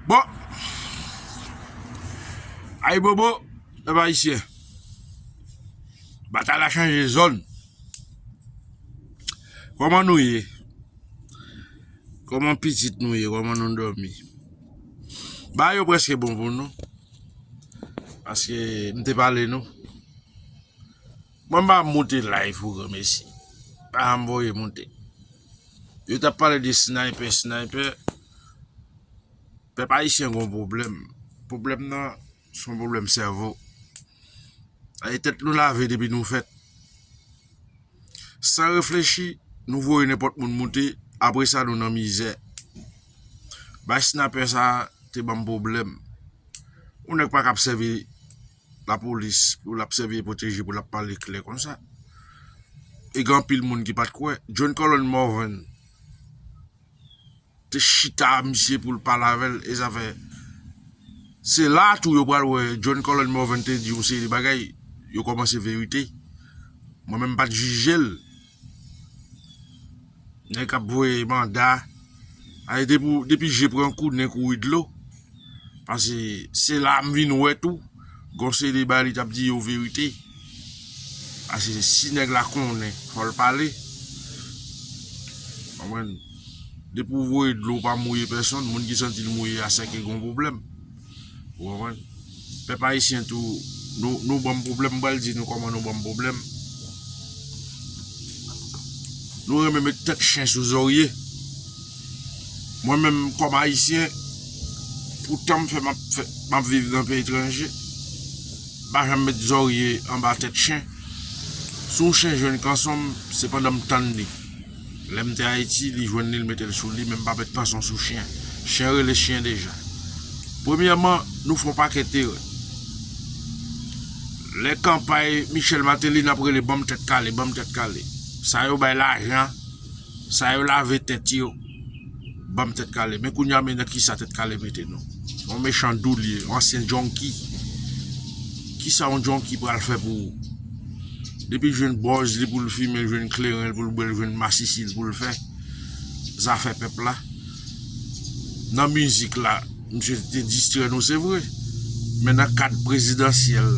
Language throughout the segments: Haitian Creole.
Bon, ay bobo, e ba isye, bata la chanje zon, koman nou ye, koman pitit nou ye, koman nou do mi, ba yo preske bon pou nou, aske m te pale nou, mwen ba moute la, ifou gome si, ba m voye moute. Yo tap pale de snaypè snaypè Pèp ayisyen gen yon pwoblèm Pwoblèm nan se yon pwoblèm sèvo E tèt nou lave depi nou fèt San reflechi nou voye nenpòt moun moute Apre sa nou nan mizè Bay snapè sa te banm pwoblèm Yon nèg pa ka ap sèvi Lapolis pou lap sèvi e pwoteje pou lap pale klè konsa e gen anpil moun ki pat kwè John Colón Morvan te chita a misye poul pale avèl e zafè se la tou yo pral wè John Colón Morvan te di yon seri de bagay yo kòmanse verite mwen menm pat jijel. Nèg kap voye manda Ay depi je pran kou nen kouri dlo Pase se la m vin wè tou Gon seri bagay li tap di yo verite Pase si nèg la konnen fò l pale Konprann Depi w voye dlo w pa mouye pèsonn Moun ki santi l mouye a sèke gon pwoblèm Ou konprann? Pèp ayisyen tou, nou banm pwoblèm, m pral di nou kòman nou banm pwoblèm. Nou renmen met tèt chen sou zorye. Mwen menm kòm ayisyen, pou tan m fè m ap viv nan peyi etranje, m pa janm met zorye anba tèt chen. Si yon chen jwenn kanson m, se pandan m tann li. Lèm te ayiti li jwenn li l metel sou li menm pa met pason sou chyen chyen rele chyen deja premyèman nou fon pakèt erè lè kanpay Michel Martelly nap rele banm tèt kale banm tèt kale sa yo bay lajan sa yo lave tèt yo. banm tèt kale men kounya men nan kisa tèt kale mete nou yon mechan dou li ye yon ansyen junky kisa yon junky pral fè pou ou depi l jwenn bòz li poul fimen l jwenn kleren l poul bwè l jwenn masisi l poul fè zafè pèp la nan mizik la misye te distrè nou se vre men nan kad prezidansyèl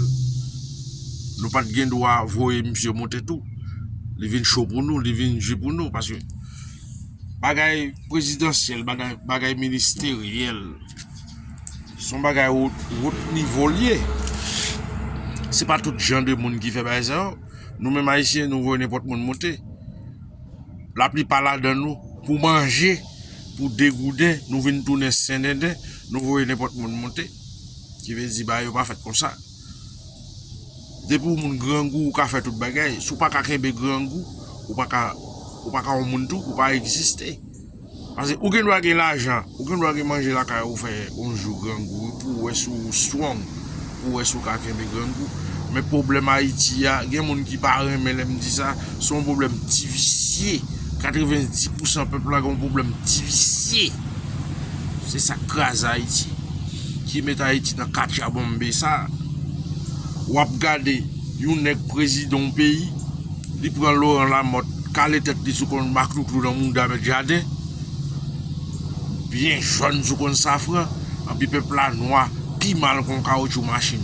nou pat gen dwa voye misye monte tou li vin cho pou nou li vin di pou nou paske. Bagay prezidansyèl, bagay ministeryèl, se yon bagay wot nivo li ye. Se pa tout jan de moun ki fè bagay sa yo. Nou menm Ayisyen, nou voye nenpòt moun monte. Laplipa ladan nou, pou manje, pou degouden, nou vin tounen sendenden, nou voye nenpòt moun monte. Ki vle di bagay yo pa fèt konsa. Depi w moun grangou ou ka fè tout bagay, si w pa ka kenbe grangou ou pa ka ou pa ka yon moun tou, ou pa egziste. Pase ou gen dwa gen lajan, ou gen dwa gen manje lakay ou fè yon jou grangou wi pou w wè si w strong, pou w wè si w ka kenbe grangou. Men pwoblèm Ayiti a, gen moun ki pa renmen lè m di sa, se yon pwoblèm ti visye, 90 pousan pèp la gen yon pwoblèm ti visye. Se sa k kraze Ayiti. ki met ayiti nan katyabonbe sa wap gade yon nèg prezidan yon peyi li pran Laurent Lamothe kale tèt li sou konn maklouklou nan mouda mèt jaden byen jòn sou konn safran anpi pèp la nwa pi mal kon kawotchou machin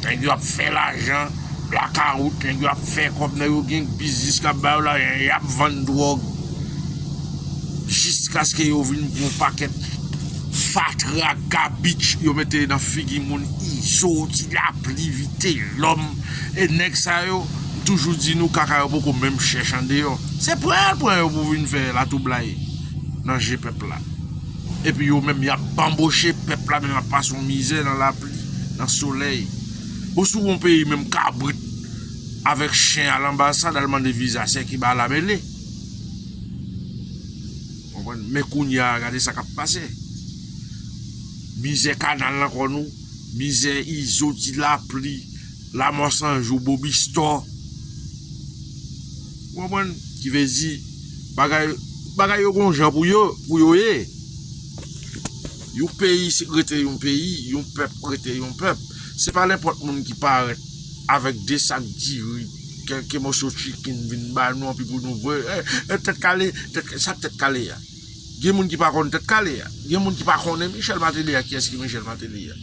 nèg yo ap fè lajan blakawout nèg yo ap fè kòb nèg yo gen biznis kap ba yo lajan yap vann dwòg jiskaske yo vin gwo pakèt. Fatra gabich yo mete nan figi moun izo di lapli vite lòm e nèg sa yo m toujou di nou kaka yo poko menm chèch andeyò se pran yal pran yo pou vin fè latwoublay nan je pèp la epi yo menm yap banboche pèp la menm ap pase yon mizè nan lapli nan solèy bon si w gon peyi menm kabrit avèk chen al anbasad al mande viza sèki ba la mele. Konprann men kounya gade sa kap pase mizè kanal nan kò nou mizè izo ti lapli lamò sanjou bobistò ou konprann ki vle di bagay bagay yo gon jan pou yo pou yo ye yon peyi rete yon peyi yon pèp rete yon pèp se pa nenpòt moun ki parèt avèk de sak diri. Kèlke moso chicken vin ba nou anpi pou nou vwe eh tèt kale tèt kale sak tèt kale a gen moun ki pa konn tèt kale a gen moun ki pa konnen Michel Martelly a kiyès ki Michel Martelly a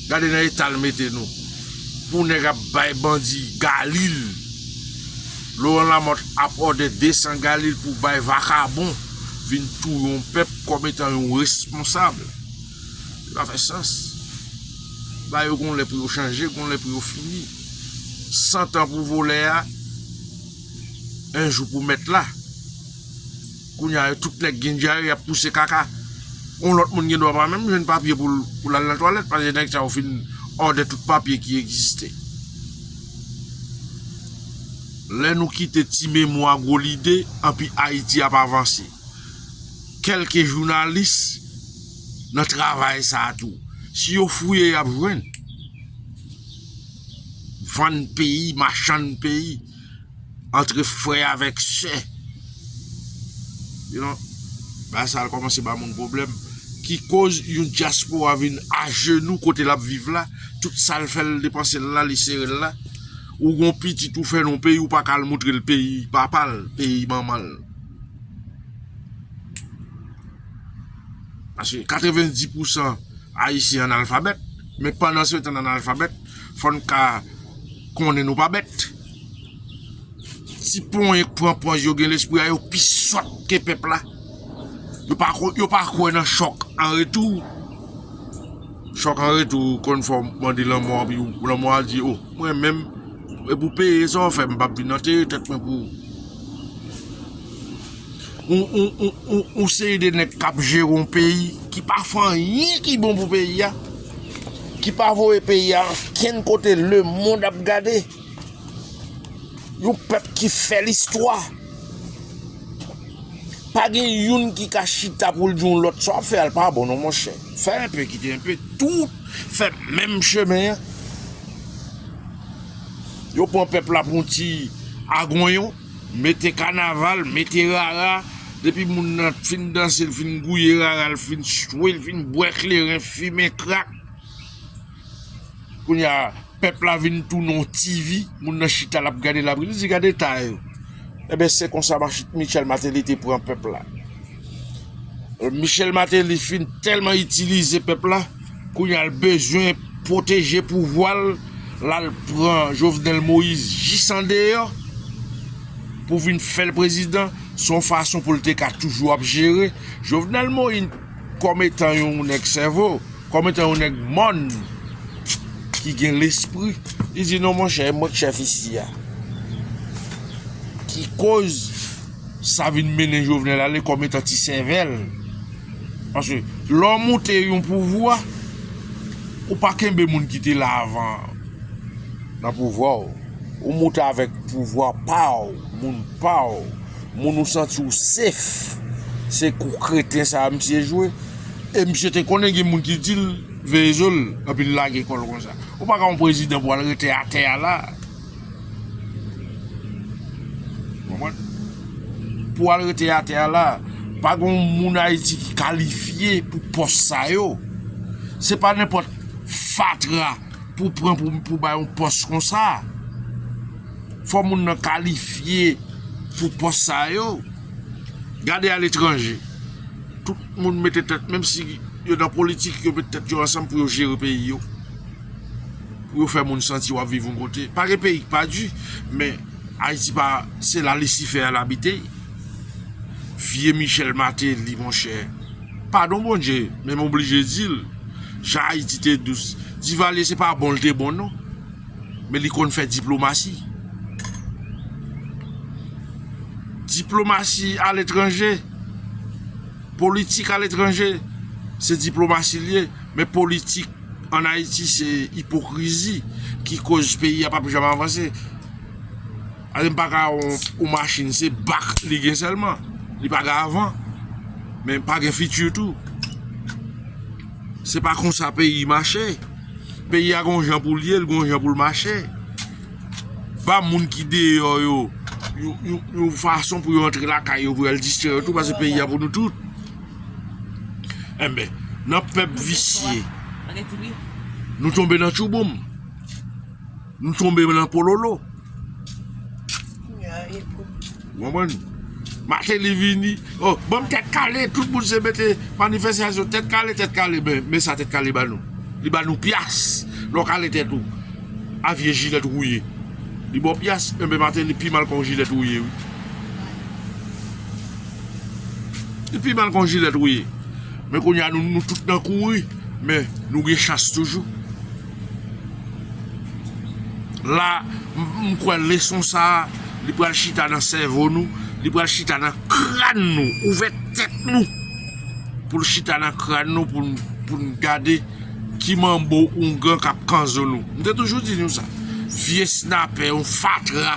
gade nan etal mete nou pou nèg ap bay bandi galil Laurent Lamothe ap òdè 200 galil pou bay vakabon vin touye yon pèp kòm etan yon responsab. Li pa fè sans. Ba yo gon lè pou yo chanje, gon lè pou yo fini. Cent ans pou volè a, un jour pou mèt la. Kounye a yo tout nèg gen dyare yap pouse kaka. Yon lòt moun gen dwa pa menm jwenn papye pou l al nan twalèt paske nèg sa yo fin òdè tout papye ki egziste. Lè nou kite ti memwa gwo lide, anpi Ayiti ap avanse. kelke jounalis nan travay sa tou si yo fouye yap jwenn vann peyi machann peyi antre frè avèk sè yon ba sa al komanse ba moun problem ki koz yon diaspora vin ajenou kote lap viv la tout sal fèl depanse la li serel la ou gon pitit ou fè non peyi ou pa kal moutrel peyi papal peyi manmanl. Paske 90 pousan ayisyen analfabèt, men pandan se tan analfabèt, fò n ka konnen nou pa bèt. Ti ponyen k pran pòz yo gen lespri a yo pi sòt ke pèp la. Yo pa kwè nan chòk an retou. Chòk an retou konn fè w mande lanmò anpi lanmò a di o mwen menm e pou peye sa w fè m m pa p vin antere tèt mwen pou ou. Yon seri de nèg k ap jere yon peyi ki pa fè anyen ki bon pou peyi a, ki pa voye peyi a okenn kote lemonn ap gade, yon pèp ki fè listwa. Pa gen youn ki ka chita pou l di yon lòt sa w ap fè a l pa bon non monchè, fè enpe kite enpe, tout fè menm chemen an. Yo pran pèp la pou yon ti agonyon, mete kanaval, mete rara, depi moun nan fin danse, l fin gouye rara, l fin chwe, l fin bwè kleren, fimen krak. Kounye a, pèp la vin tounen yon TV, moun nan chita l ap gade, l ap ri, li di gade eta yo. Eben se konsa Michel Martelly te pran pèp la. Michel Martelly fin tèlman itilize pèp la. Kounya l bezwen pwoteje pouvwa l la l pran Jovenel Moïse jis andeyò pou vin fè l prezidan se yon fason pou l te ka toujou ap jere Jovenel Moïse kòm etan yon nèg sèvo kòm etan yon nèg mòn ki gen lespri li di non monchè e mwen k chèf isi a ki koz Sa vin mennen Jovenel ale kòm etan ti sèvèl. Paske lè w moute yon pouvwa, ou pa kenbe moun ki te la avan an nan pouvwa w. Ou moute avèk pouvwa pa w, moun pa w, moun ou santi w sef. Se kou kreten sa a misye jwe. E misye te konnen gen moun ki di l veye zo l, epi l lage kò l konsa. Ou pa ka yon prezidan pou w al rete atè a la. Pou al rete atè a la, pa gen yon moun Ayiti ki kalifye pou pòs sa yo. Se pa nenpòt fatra pou pran pou bay yon pòs kon sa. Fò moun nan kalifye pou pòs sa yo. Gade a letranje. Tout moun mete tèt menm si yo nan politik yo mete tèt yo ansanm pou yo jere peyi yo. pou yo fè moun santi wap viv yon kote pa gen peyi ki pa di men ayiti pa se la lisifè al abite vye michèl mateli monchè padon bondye men m oblije dil jan ayiti te dous divalye se pa bon l te bon non men li konn fè diplomasi diplomasi aletranje politik aletranje se diplomasi l ye men politik An Ayiti se ipokrizi ki koz peyi a pap janm avanse. Ale m paka yon machin se bak li gen sèlman, li pa gen avan, men pa gen fiti tou. Se pa konsa peyi mache, peyi a gon jan pou l ye, l gon jan pou l mache. Ba moun ki deyò yo yon fason pou yo antre lakay yo pou yo al distrè yo tou pase peyi a pou nou tout. Enben, nan pèp visye, nou tonbe nan tchouboum, nou tonbe nan pololo. Mwen mwen, maten li vini, oh, banm tèt kale, tout moun se mette manifestasyon, tèt kale, tèt kale, men sa tèt kale ba nou. Li ba nou pyas, lò kale tèt ou, avye jilèt ou ye. Li bò pyas, enben maten li pi mal kon jilèt ou ye. Li pi mal kon jilet wi. Men kounye a nou tout nan kouri. Men nou gen chans toujou. La, m kwè leson sa, li pral chita nan sèvo nou, li pral chita nan kran nou, ouvè tèt nou. Pou l chita nan kran nou pou n gade ki manbo oungan k ap kanzo nou. M te toujou di nou sa. Vye snapè, yon fatra.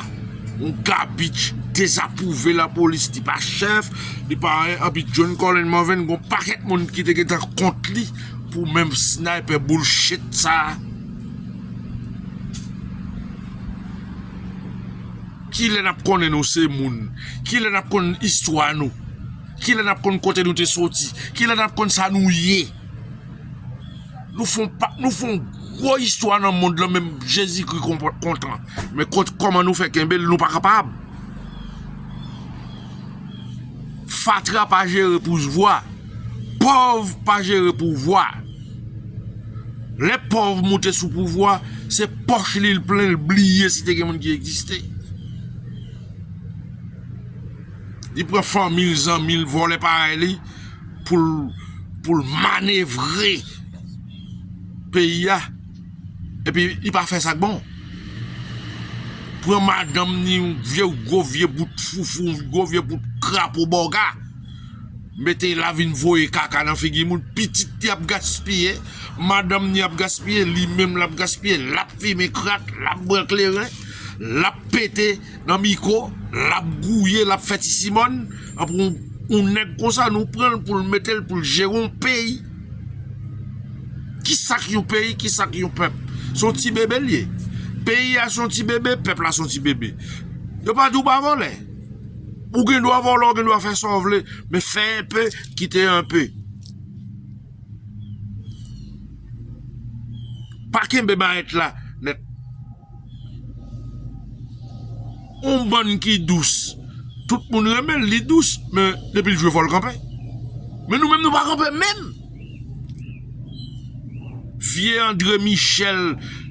Yon gabich dezapwouve lapolis li pa chèf li pa anyen epi John Colin Morvan gon pakèt moun ki te gentan kont li pou menm sniper bullshit sa kilè nap konnen nou se moun kilè nap konn istwa nou kilè nap konn kote nou te soti kilè nap konn sa nou ye. Nou fon pak, nou fon gwo istwa nan mond lan menm jezi kri kontan men kot koman nou fè kenbe l nou pa kapab fatra pa jere pousvwa pòv pa jere pouvwa lè pòv moute sou pouvwa se pòch li l plen l bliye si te gen moun ki egziste li pran fanmi l zanmi l vòlè parèy li pou l manevre peyi a epi li pa fè sa k bon. Pran madanm ni yon vye gwo vye bout foufou, yon gwo vye bout krapo bòga, mete la vin voye kaka nan figi moun, pitit li ap gaspiye, madanm ni ap gaspiye, li menm l ap gaspiye, l ap fimen krak, l ap bwè kleren, l ap pete. Nan miko lap gouye lap fè ti simòn anpou yon nèg konsa nou pranl poul metel poul jere yon peyi kisak yon peyi kisak yon pèp son ti bebe liye peyi a son ti bebe pèp la son ti bebe yo pa di ou pa vòlè ou gen dwa vòlè ou gen dwa fè sa ou vle men fè yon pe kite yon pe pa kenbe mayèt la nèt. On bann ki dous tout moun renmenl li dous men depil jwe fòl kanpe men nou menm nou pa kanpe menm vye andre michel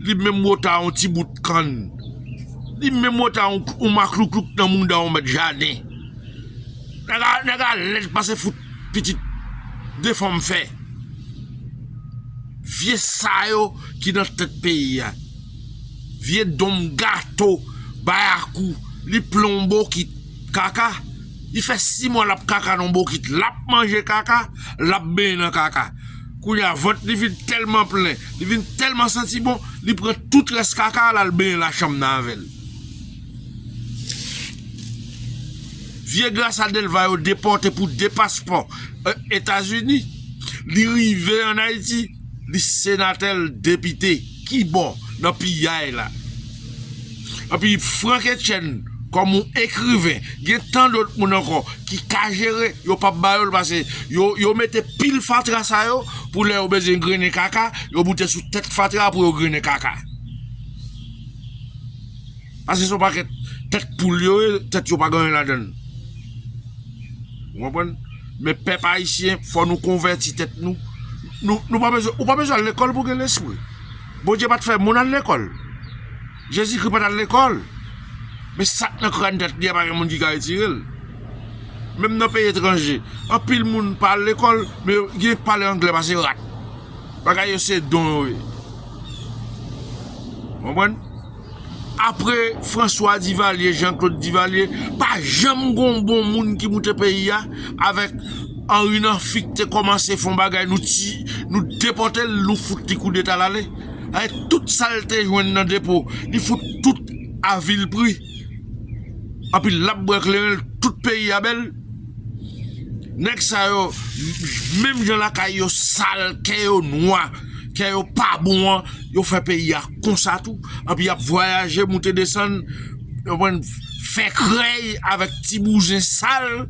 li menm ou ta on ti bout kann li menm ou ta on maklouklou nan mouda on mèt jaden nèg a lèd pase fout pitit defanm fè vye sa yo ki nan tèt peyi a. Vye donm gato bayakou li plen yon bokit kaka li fè 6 mwa lap kaka nan bokit lap manje kaka lap benyen nan kaka kounya vant li vin tèlman plen li vin tèlman santi bon li pran tout rès kaka a lal benyen la chanm nan avèl vye grasa delva yo depòte pou 2 paspò etazini li rive an ayiti li senatè l depite. Kibò nan piyay la? Epi Franck Etienne kòm yon ekriven gen tan dòt moun ankò ki ka jere, yo pap ba yo l pase yo mete pil fatra sa yo pou lè yo bezwen grennen kaka yo boute sou tèt fatra pou yo grennen kaka. Paske son pakèt tèt poul yo ye, tèt yo pa gen anyen ladann. Ou konprann? Men pèp ayisyen fò nou konvèti tèt nou. Nou pa bezwen, ou pa bezwen al lekòl pou gen lespri. Bondye pat fè moun al lekòl. Jezikri pat al lekòl. Men sak nan kràn tèt li a pa gen moun ki ka retire l. Menm nan peyi etranje, anpil moun pa al lekòl, men yo gen k pale angle pase rat. Bagay yo se don yo ye. Ou konprann? Apre François Duvalier, Jean Claude Duvalier, pa janm gon bon moun ki moute peyi a, avèk Henri Nanfic te kòmanse fon bagay nou ti, nou depòte l, nou fout li koudeta l ale. Avèk tout sa l te jwenn nan depo, li fout tout a vil pri. Anpi l ap bwè kleren l, tout peyi a bèl. Nèg sa yo, menm jan lakay yo sal, kè yo nwa. kè yo pa bon an, yo fè peyi a konsa tou, anpi yap vwayaje moute desann, yo pwenn fè krèy avèk ti bouzen sal,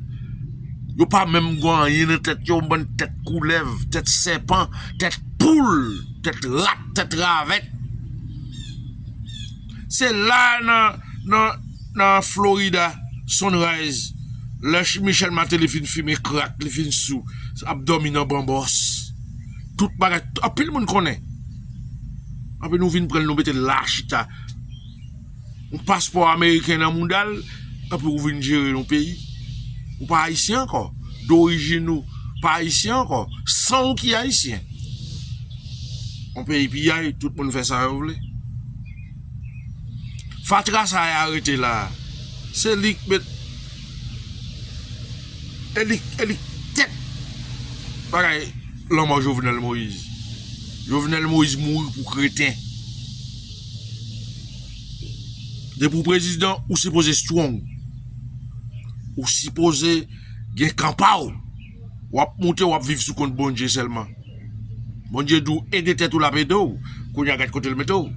yo pa menm gwan anyen nan tèt yo, bann tèt koulèv, tèt sèpan, tèt poul, tèt rat, tèt ravèt. Se la nan Florida, Sunrise, lè Michel Martelly fin fimen krak, li fin sou, ap dòmi nan banbòs. Tout bagay, anpil moun konnen. Anpi nou vin pranl nou metel la chita. Yon paspò ameriken nan moudal, anpi ou vin jere yon peyi. Ou pa ayisyen ankò. Dorijin ou pa ayisyen ankò. San ou ki ayisyen. Yon peyi piyay, tout moun fè sa yo vle. Fatra sa y arete la, se li k met. Eli eli tèt bagay lanmò jovenel moise jovenel moise mouri pou kreten depi ou prezidan ou sipoze strong ou sipoze gen kan paw wap moute wap viv sou kont Bondye sèlman Bondye diw ede tèt ou lap ede w kounya gad kotel mete w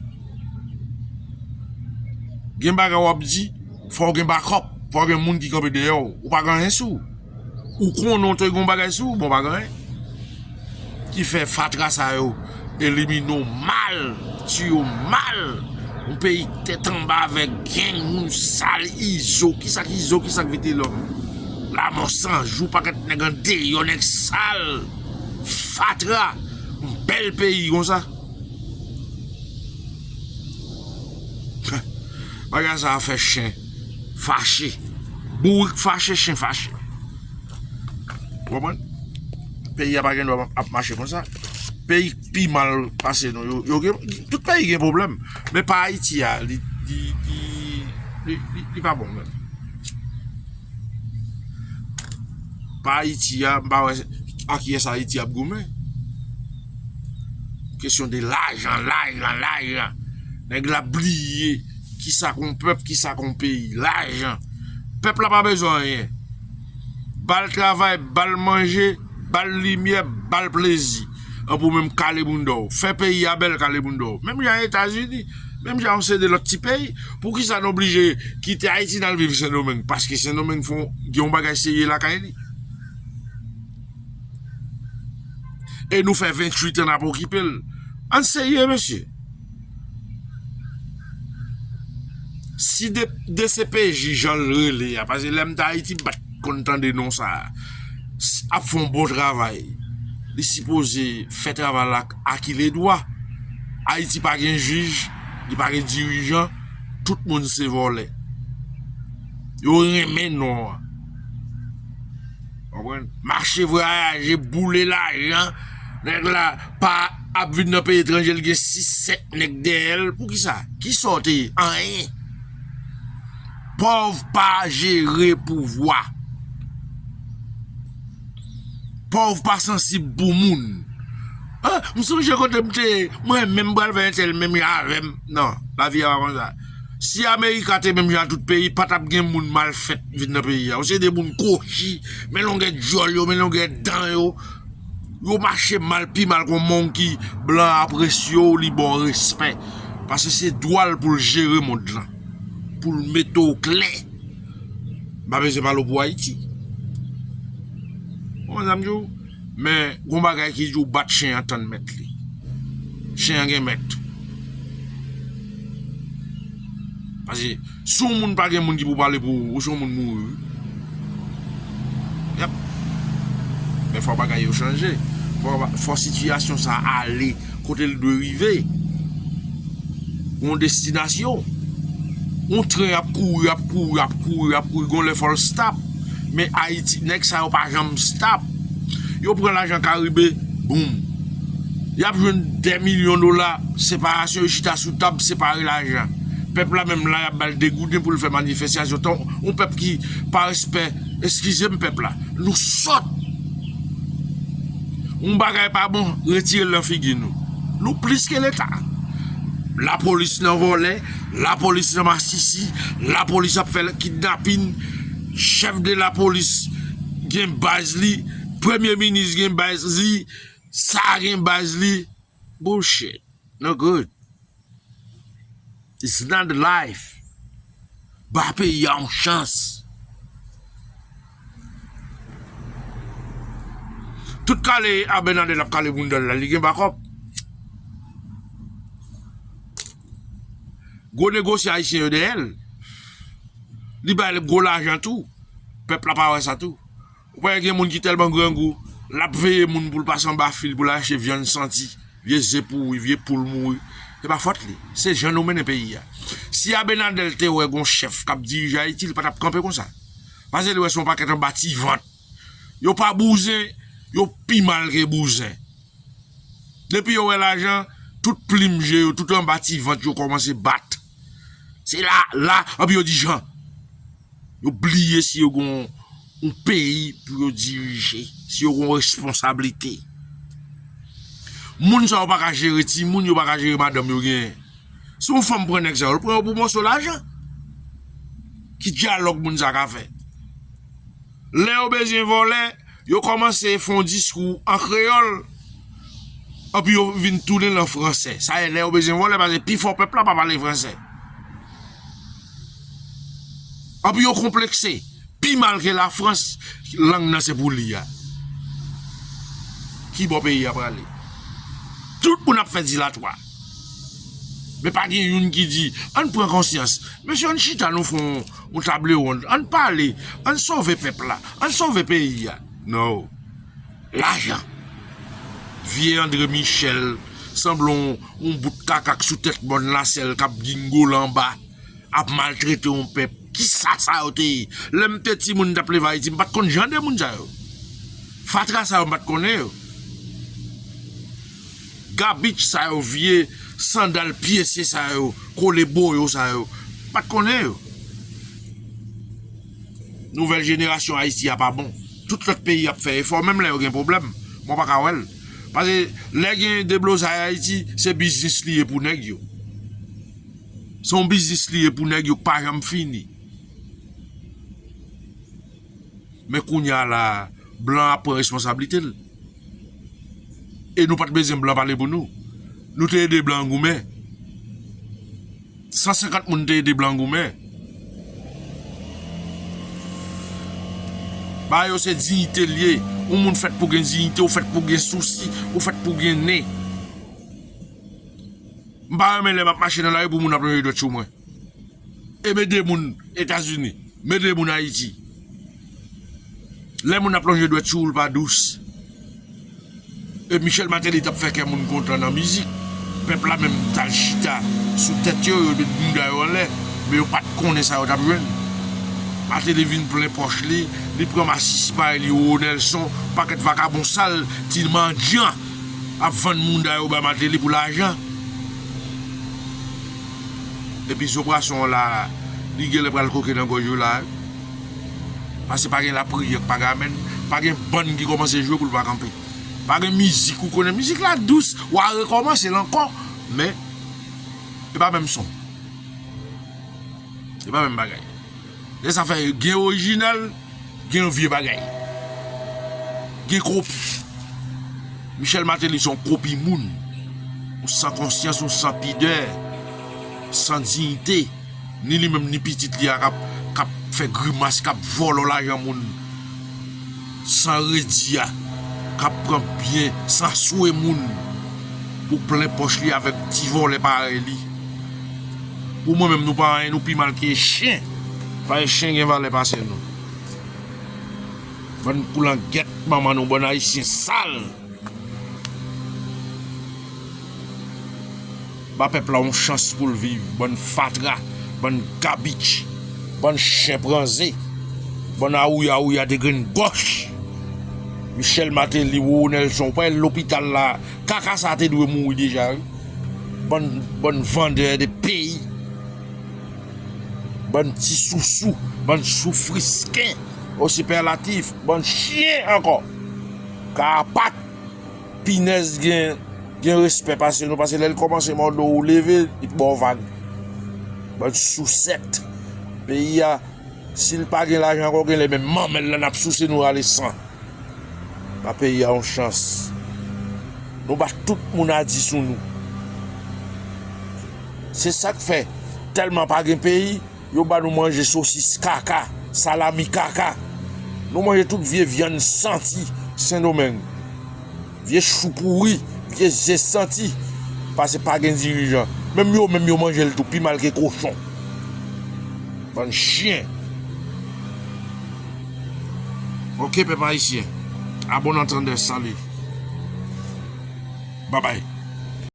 gen bagay wap di Fòw gen backup, fòw gen moun ki kanpe dèyè w, ou pa gen anyen sou w, ou konnen w te gen yon bagay sou w men w pa gen anyen. Ki fè fatra sa yo elimine w mal, tiye w mal, yon peyi tèt anba avèk gang, moun sal, izo, kisa ki izo, kisa ki vitelòm, lamò san jou, pakèt nèg andeyò, nèg sal, fatra, yon bèl peyi konsa. Bagay sa fè chen fache. Bourik fache chen fache. Ou konprann? Peyi a pa gen dwa ap mache konsa. Peyi k pi mal pase nou yo, yo gen, tout peyi gen pwoblèm, men pa Ayiti a, li, li, li, li pa bon menm. Pa Ayiti a, m pa wè ak ki yès Ayiti ap goumen. Kesyon de lajan, lajan, lajan. Nèg la bliye ki sa kon pèp, ki sa kon peyi. Lajan. Pèp la pa bezwen anyen. Ba l travay, ba l manje, ba l limyè, ba l plezi. An pou menm kale bounda w. Fè peyi a bèl kale bounda w. Menm jan Etazini. Menm jan yon seri de lòt ti peyi. Pou ki sa nou oblije kite Ayiti nan viv Sendomeng? Paske Sendomeng fon gen yon bagay serye lakay li. E nou fè 28 an nap okipe l. An serye mesye. Si dcpj jan l rele a. Pase lè m t ayiti m pat konn tande non sa a. Ap fè yon bon travay. Li sipoze fè travay la akiledwa. Ayiti pa gen jij. Li pa gen dirijan. Tout moun se vòlè. Yo renmen non an. Konprann? Mache vwayaje, boule lajan, nèg la pa ap vin nan peyi etranje li gen 6, 7 nèg dèyè l, pou kisa? Ki sa w te ye? Anyen. Pòv pa jere pouvwa. Pòv pa sansib pou moun. M sonje kote m te ye, mwen menm m pral fè entèl menm jan avè m. Non, lavi a pa konsa. Si America te menm jan a tout peyi pa tap gen moun mal fèt vin nan peyi a yo se de moun kochi men longè dyòl yo men longè dan yo yo mache mal pi mal kon monkey blan an apresye w li ba w respè pase se dwa l pou l jere mond lan pou l mete w klè m pa bezwen pale w pou Ayiti ou konprann sa m di w. Men gon bagay ki di w bat chen an tann mèt li. Chen an gen mèt. Pase si w moun pa gen moun ki pou pale pou ou, ou se yon moun mouri wi. Yep. Dèfwa bagay yo chanje. Fò sitiyasyon sa ale kote l dwe rive, yon destinasyon, yon tren ap kouri, ap kouri, ap kouri, ap kouri, yon lè fòl stop, men Ayiti, nèk sa yo pa janm stop, yo pran lajan karibe, boum, y ap jwenn 2 milyon dola, separasyon, yo chita sou tab, separe lajan, pèp la menm la y ap bal degouden pou l fè manifestasyon, yon pèp ki pa respè, eskize m pèp la, nou sòt. Yon bagay pa bon, retire l nan figi nou. Nou plis ke leta. La polis nan vòlè, la polis nan masisi, la polis ap fè kidnapin, chèf de la polis gen baz li, premye minis gen baz li, sa gen baz li. Bullshit no good it's not the life ba peyi a yon chans tout kale Abinader ap kale boundal la li gen bakòp gwo negosye ayisyen yo dèyèl li bay gwo lajan tou pèp la pa wè sa tou. Ou pa wè gen moun ki tèlman grangou, l ap veye moun pou l pase anba fil pou l al achte vyann santi, vye ze pouri, vye poul mouri. Se pa fòt li. Se jan nou mennen peyi a. Si Abenadèl te wè gon chèf k ap dirije Ayiti, li pa t ap kanpe konsa. Pase li wè se yon pakèt anba ti vant. Yo pa bouzen, yo pi mal ke bouzen. Depi yo wè lajan, tout plim je yo, tout anba ti vant yo kòmanse bat. Se la, la, anpi yo di jan. Yo bliye si yo gen yon peyi pou yo dirije, si yo gen yon responsablite. Moun sa yo pa ka jere timoun, yo pa ka jere madanm yo genyen. Si yon fanm pran nèg sa yo, l pran yo pou mòso lajan. Ki dyalòg moun sa ka fè? Lè yo bezyen vòlè, yo kòmanse fè yon diskou an kreyòl, anpi yo vin tounen l an fransè. Sa ye, lè yo bezyen vòlè, pase pi fò pèp la pa pale fransè. Anpi yo konplekse, pi mal ke Lafrans, lang nan se pou li a. Ki bò peyi a prale? Tout moun ap fè dilatwa. Men pa gen youn ki di, ann pran konsyans, mesye ann chita nou fè yon table ronde, ann pale, ann sove pèp la, ann sove peyi a. Non. Lajan. Vye Andre Michel sanble yon bout kaka k sou tèt mòn la sèl k ap gingoll anba, ap maltrete yon pèp. Ki sa sa yo te ye? Lè m te timoun m t ap leve Ayiti m pa t konn jan de moun sa yo. Fatra sa yo m pa t konnen yo. Garbitch sa yo vye sandal pyese sa yo kole boyo sa yo pat konnen yo Nouvèl jenerasyon Ayiti a pa bon Tout lòt peyi ap fè efò menm lè yo gen pwoblèm mwen pa ka wèl Pase lè gen deblozay Ayiti se biznis li ye pou nèg yo Se yon biznis li ye pou nèg yo k pa janm fini. Men kounya la a, blan ap pran responsablite l. E nou pa t bezwen blan pale pou nou. Nou te ede blan goumen. 150 moun te ede blan goumen. Bagay yo se diyite l ye. Yon moun fèt pou gen diyite, ou fèt pou gen sousi, ou fèt pou gen nen. M pa renmen lè m ap mache nan lari pou moun ap lonje dwèt sou mwen. E mede moun etazini. Mede moun ayiti. Lè moun ap lonje dwèt sou ou l pa dous. E michel mateli tap fè kè moun kontan nan mizik. Pèp la menm tal chita sou tèt yo yo met bouda yo anlè. Men yo pat konnen sa yo tap jwenn. Mateli vin plen pòch li. Li pran masisi parèy li roro nelson. Pakèt vakabon sal ti mandyan ap vann mouda yo bay mateli pou lajan. epi zo pwason an la li genlè pral koke nan gòj yo la pase pa gen lapriyè k pa gamèn pa gen bann ki kòmanse jwe pou l pa kanpe pa gen mizik ou konnen mizik la dous wa rekòmanse l ankò men e pa menm son e pa menm bagay lè sa fè gen orijinal. Gen yon vye bagay. Gen kopi. Michel Martelly se yon kopi moun. Yon san konsyans, yon san pidè, san diyite. Ni li menm ni pitit li a kap fè grimas, kap vòlò lajan moun. San redi a, kap pran byen, san swe moun. Pou plen pòch li avèk ti vòlè parèy li. Pou mwen menm nou pa anyen nou pi mal ke chien paske chien gen valè pase nou bann koulangèt manman nou bann ayisyen sal ba pèp la yon chans poul viv bann fatra bann kabich bann chien pran ze bann awouya awouya de grenn gòch Michel Martelly Roro Nelson ou pa wè lopital la. Kaka sa te dwe mouri deja wi. Bann bann vendeur de peyi. Bann ti sousou. Bann soufrisken. Au superlatif. Bann chien ankò. Karapat. Pinèz gen gen respè pase nou pase lè l kòmanse mòde w ou leve li p ba w vag. Bann sousèt. Peyi a si l pa gen lajan ankò genlè menm manmèl la n ap souse nou rale san. Ba peyi a yon chans. Nou ba tout moun a di sou nou. Se sak fè telman pa gen peyi, yo ba nou manje sosis kaka, salami kaka. Nou manje tout vye vyann santi sendomeng. Vye chou pouri, vye ze santi. Pase pa gen dirijan. Menm yo menm yo manje l tou pi mal ke kochon. Bann chyen. Ok pèp ayisyen. A bon antandè salut. Babay.